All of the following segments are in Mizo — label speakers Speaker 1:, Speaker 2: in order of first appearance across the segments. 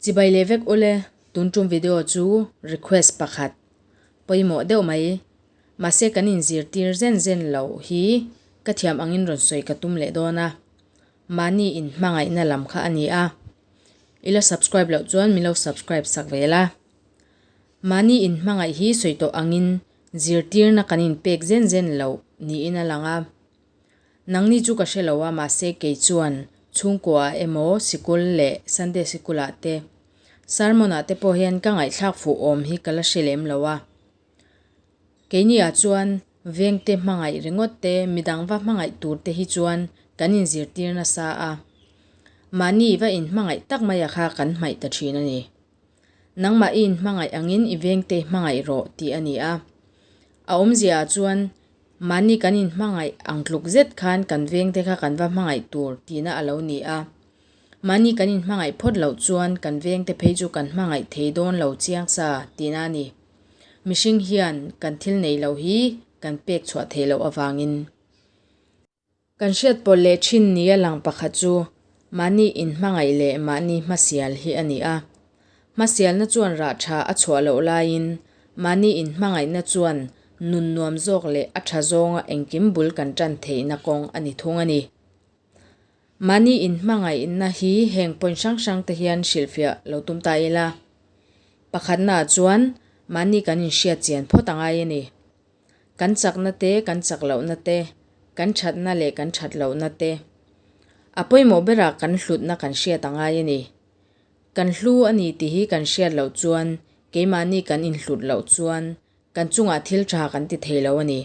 Speaker 1: Chibai leh vek ule tun tum video chu request pakhat pawimawh deuh mai mahse kan in zirtir zen zen lo hi ka thiam angin rawn sawi ka tum leh dawn a mahni in hmangaihna lam kha a ni a i la subscribe loh chuan min lo subscribe sak ve la mahni in hmangaih hi sawi tawh angin zirtirna kan in pek zen zen lo niin a lang a. Nangni chu ka hre lo a, mahse kei chuan chhungkua-ah emaw, sikul leh Sunday sikul-ah te, sermon-ah te pawh hian ka ngaihthlak fuh awm hi ka la hre lem lo a. Keinia chuan vengte hmangaih ringawt te, midangva hmangaih tur te hi chuan kan inzirtir nasa a, mahni va inhmangaih tak maia kha kan hmaih ta thin a ni. Nangmah in hmangaih angin i vengtei hmangaih rawh tih a ni a. A awmzia ah chuan mahni kan in hmangaih ang tluk zet khan kan vengte kha kan va hmangaih tur tihna a lo ni a. Mahni kan in hmangaih phawt loh chuan kan vengte phei chu kan hmangaih thei dawn lo chiang sa tihna a ni. Mihring hian kan thil nei lo hi kan pek chhuah theih loh avangin. Kan hriat pawlh leh thin ni a lang pakhat chu mahni inhmangaih leh mahni hmasial hi a ni a. Hmasialna chuan rah tha a chhuah loh laiin, mahni inhmangaihna chuan nun nuam zawk leh a tha zawnga engkim bul kan tan theihna kawng a ni thung a ni. Mahni inhmangaihna hi heng point hrang hrangte hian hrilhfiah lo tum ta ila, pakhatnaah chuan mahni kan inhriat chian phawt a ngai a ni. kan chakna te, kan chak lohna te, kan thatna leh kan that lohna te a pawimawh berah kan hlutna kan hriat a ngai a ni. Kan hlu a ni tih hi kan hriat loh chuan keimahni kan inhlut loh chuan kan chungah thil tha kan ti thei lo a ni.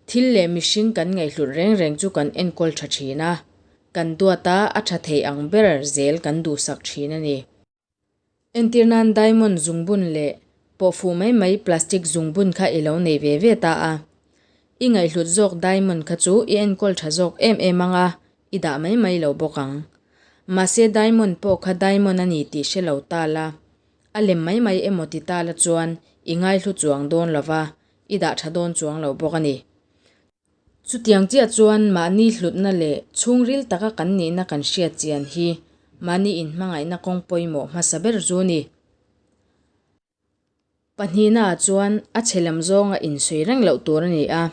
Speaker 1: Thil leh mihring kan ngaihhlut reng reng chu kan enkawl tha thin a, kan duata a tha thei ang ber zel kan duhsak thin a ni. Entir nan diamond zungbun leh pawh fuh mai mai plastic zungbun kha i lo nei ve ve ta a. I ngaihhlut zawk diamond kha chu i enkawl tha zawk em em anga i dah mai mai lo bawk ang. Mahse diamond pawh kha diamond a ni tih hre lo ta la, a lem mai mai emaw ti ta la chuan i ngaihhlu chuang dawn lova, i dah tha dawn chuang lo bawk a ni. Chutiang chiah chuan mahni hlutna leh chhungril taka kan nihna kan hriat chian hi mahni inhmangaihna kawng pawimawh hmasa ber zu a ni. Pahnihnaah chuan a chhe lam zawnga insawi reng loh tur a ni a.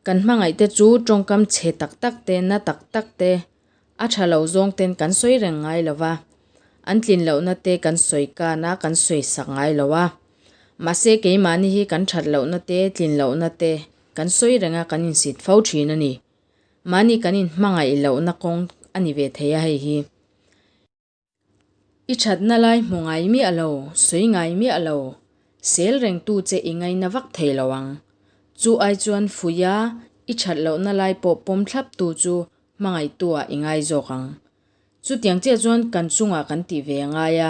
Speaker 1: Kan hmangaihte chu tawngkam chhe tak tak te, na tak tak te, A tha lo zawng ten kan sawi reng ngai lo va, an tlin loh na te kan sawi kan a, kan sawi sak ngai lo a. Mahse keimahni hi kan that loh na te, tlin loh na te kan sawi reng a kan insit fo thin a ni. Mahni kan in hmangaih loh na kawng a ni ve thei a hei hi. I thatna lai hmu ngai miah lo, sawi ngai miah lo, sel reng tu che i ngaina vak thei lo ang. Chu ai chuan fuia i that lohna lai pawh pawm thlap tu chu hmangaitu ah i ngai zawk ang. Chutiang chiah chuan kan chungah kan tih ve ngai a,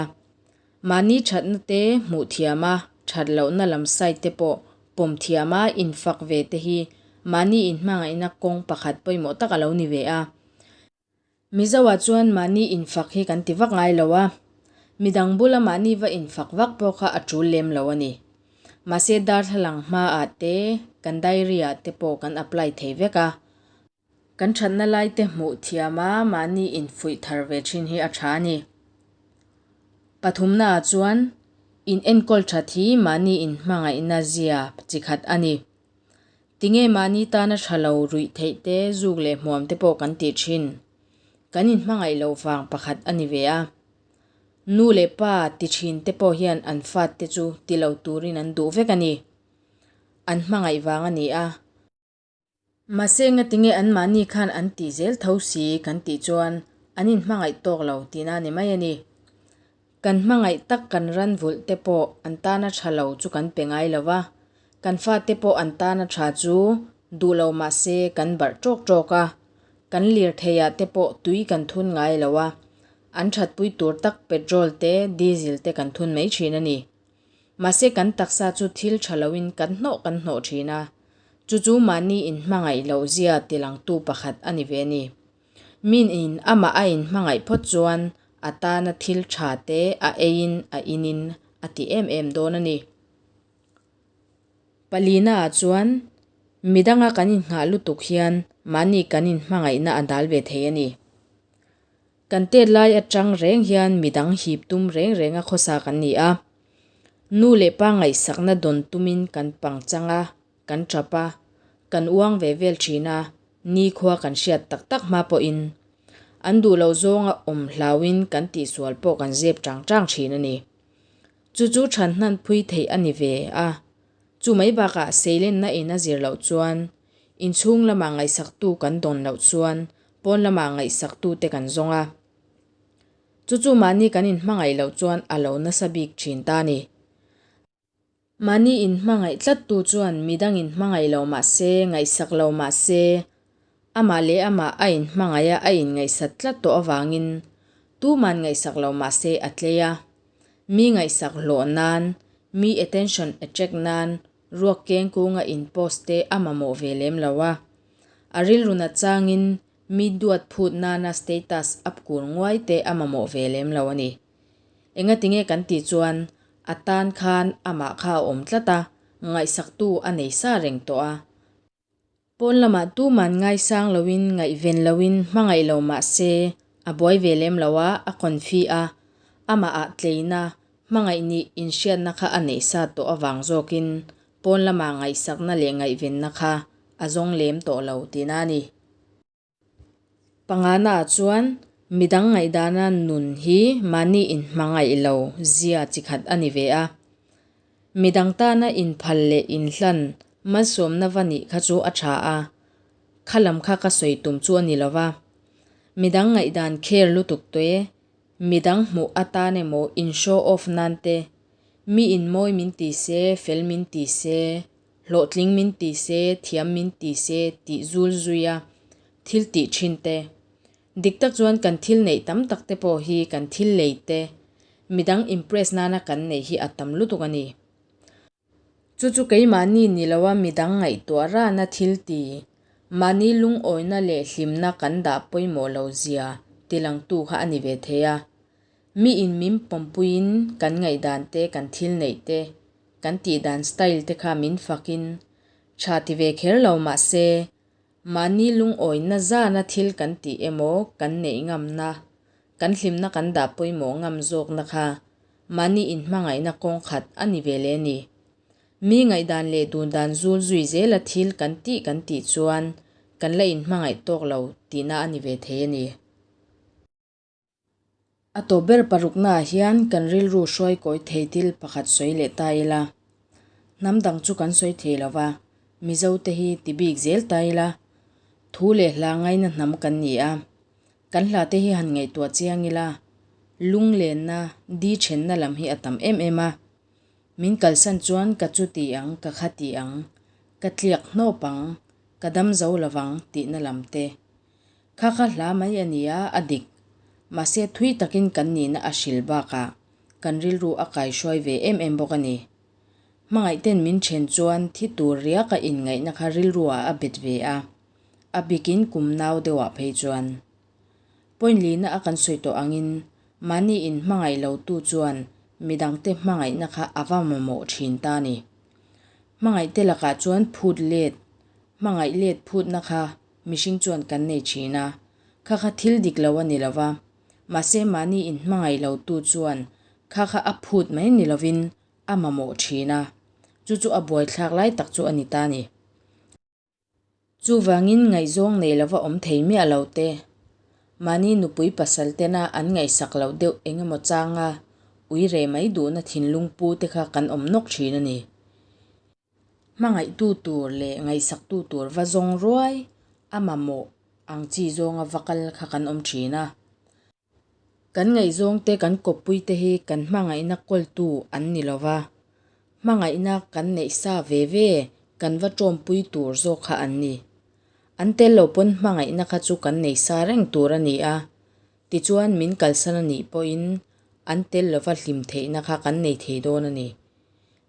Speaker 1: mahni thatna te hmuh thiam a, that lohna lam side te pawh pawm thiam a infak ve te hi mahni inhmangaihna kawng pakhat pawimawh tak a lo ni ve a. Mizoah chuan mahni infak hi kan ti vak ngai lo a, midang bula mahni va infak vak pawh kha a tul lem lo a ni. Mahse darthlalang hmaah te, kan diary-ah te pawh kan apply thei vek a, kan thatna laite hmuh thiama mahni infuih thar ve thin hi a tha a ni. Pathumnaah chuan, inenkawl that hi mahni inhmangaihna zia chi khat a ni. Tinge mahni tana tha lo ruih theih te, zuk leh hmuam te pawh kan tih thin? Kan inhmangaih lo vang pakhat a ni ve a. Nu leh pa ti thin te pawh hian an fatte chu ti lo turin an duh vek a ni. An hmangaih vang a ni a. Mahse enge tinge an mahni khan an tih zel tho si kan tih chuan an inhmangaih tawk lo tihna a ni mai a ni. Kan hmangaih tak kan ranvulh te pawh an tan a tha lo chu kan pe ngai lo va, kan fa te pawh an tan a tha chu duh lo mah se kan barh tawk tawk a, kan lirtheia te pawh tui kan thun ngai lo a, an thatpui tur tak petrol te diesel te kan thun mai thin a ni. Mahse kan taksa chu thil tha lo in kan hnawh kan hnawh thin a, chu chu mahni in hmangaih loh zia ti langtu pakhat a ni ve a ni. Min in amah a in hmangaih phawt chuan a tana thil tha te a eiin a inin a ti em em dawn a ni. Palina ah chuan midang a kan in nghah lutuk hian mahni kan in hmangaihna a dal ve thei a ni. Kan tet lai atang reng hian midang hip tum reng reng a khawsa kan ni a. Nu leh pa ngaihsakna dawn tumin kan pang chang a Kan ṭap a, kan uang ve vel ṭhin a, nikhua kan hriat tak tak hma pawhin an duh lo zawng a awm hlauin kan tihsual pawh kan zep ṭang ṭang ṭhin a ni. Chu chu ṭhan hnan phui theih a ni ve a. Chu mai bakah seilenna in a zir loh chuan inchhung lamah ngaihsaktu kan dawn loh chuan pawn lamah ngaihsaktute kan zawng a. Chu chu mahni kan inhmangaih loh chuan a lo nasa bik ṭhin ta a ni. Mahni in hmangaih tlat tu chuan midang in hmangaih lo mahse, ngaihsak lo mahse, amah leh amah a in hmangaih a, a inngaihsat tlat tawh avangin tuman ngaihsak lo mahse a tlei a. Mi ngaihsak hlawh nan, mi attention attract nan ruak keng kunga in post te a mamawh ve lem lo a. A rilru nat changin mi duat phut nana status upkur nguai te a mamawh ve lem lo a ni. Engatinge kan tih chuan a tan khan amah kha a awm tlat a, ngaihsaktu a nei sa reng tawh a. Pawn lamah tuman ngaisang loin, ngaihven loin hmangaih lo mah se, a buai ve lem lo a, a konfi a. Amahah tleina, hmangaih nih inhriatna kha a nei sa tawh avang zawkin pawn lama ngaihsakna leh ngaihvenna kha a zawng lem tawh lo, tina a ni. Panganaah chuan midang ngaihdana nun hi mahni inhmangaih lo zia chi khat a ni ve a. Midang tana inphal leh inhlan malsawmna va nih kha chu a tha a, kha lam kha ka sawi tum chu a ni lo va. Midang ngaihdan kher lutuk taweh, midang hmuh atan emaw in show off nan te, mi in mawi min ti se, fel min ti se, hlawhtling min ti se, thiam min ti se tih zul zui a thil tih thin te. Dik tak chuan kan thil neih tam tak te pawh hi kan thil lei te, midang impress nana kan neih hi a tam lutuk a ni. Chu chu keimahni ni lo a midang ngaihtuah rana thil ti, mahni lungawina leh hlimna kan dah pawimawh lo zia ti lang tu kha a ni ve thei a. Miin min pawmpuiin kan ngaihdan te, kan thil neih te, Kan tih dan style te kha min fak in tha ti ve kher lo mahse mahni lungawina zana thil kan tih emaw kan neih ngamna, kan hlimna kan dah pawimawh ngam zawkna kha mahni inhmangaihna kawng khat a ni ve le ni. Mi ngaihdan leh dun dan zul zui zela thil kan tih kan tih chuan kan la inhmangaih tawk lo tihna a ni ve thei a ni. A tawp ber paruknaah hian kan rilru hruai kawi thei thil pakhat sawi leh ta ila, hnam dang chu kan sawi thei lo va, Mizo te hi ti bik zel ta ila, thu leh hla ngaina hnam kan ni a, kan hla te hi han ngaihtuah chiang ila, lunglenna, di thenna lam hi a tam em em a, min kalsan chuan ka chu ti ang, ka kha ti ang, ka tliak hnawp ang, ka dam zo lo vang tihna lam te. Kha ka hla mai a nia a dik. Mahse thui takin kan nihna a hril bakah kan rilru a kai hruai ve em em bawk a ni. Hmangaih ten min then chuan thi tur riak a inngaihna kha rilruah a bet ve a, a bikin kum nau deuhah phei chuan. Point lina a kan sawi tawh angin mahni in hmangaih lotu chuan midangte hmangaihna kha a va mamawh thin ta ni. Hmangaihte lakah chuan phut let, hmangaih let phutna kha Mihring chuan kan nei thin a, kha kha thil dik lo a ni lo va, mahse mahni in hmangaih lo tu chuan kha kha a phut mai ni lovin a mamawh thin a, chu chu a buaithlak lai tak chu a ni ta ni. Chuvangin ngaihzawng nei lova awm thei miah lo te, mahni nupui pasal tena an ngaihsak loh deuh eng emaw changa ui reh mai duhna thinlung pu te kha kan awm nawk thin a ni. Hmangaihtu tur leh ngaihsaktu tur va zawng ruai a mamawh ang chi zawnga va kal kha kan awm thin a. Kan ngaihzawng te kan kawppui te hi kan hmangaihna kawltu an ni lo va, hmangaihna kan neih sa ve ve kan va tawmpui tur zawk kha an ni. An tel lo pawn hmangaihna kha chu kan nei sa reng tur a ni a, Tichuan min kalsan a nih pawhin an tel lova hlim theihna kha kan nei thei dawn a ni.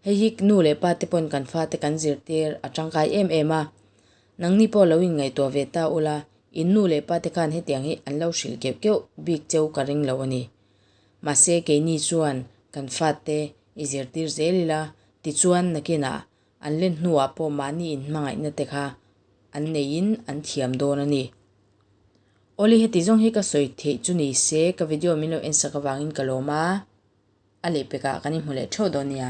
Speaker 1: Hei hi nu leh pa te pawhin kan fate kan zirtir a tangkai em em a. Nangni pawh lo in ngaihtuah ve ta ula, in nu leh pa te khan hetiang hi an lo hrilh keuh keuh bik cheu ka ring lo a ni. Mahse keini chuan kan fate i zirtir zel ila, tichuan nakinah an len hnuah pawh mahni in hmangaihna te kha an neiin an thiam dawn a ni. Oli heti zawng hi ka sawi theih chu ni se, ka video min lo en sak avangin ka lawm a, a leh pekah kan inhmu leh theuh dawn nia.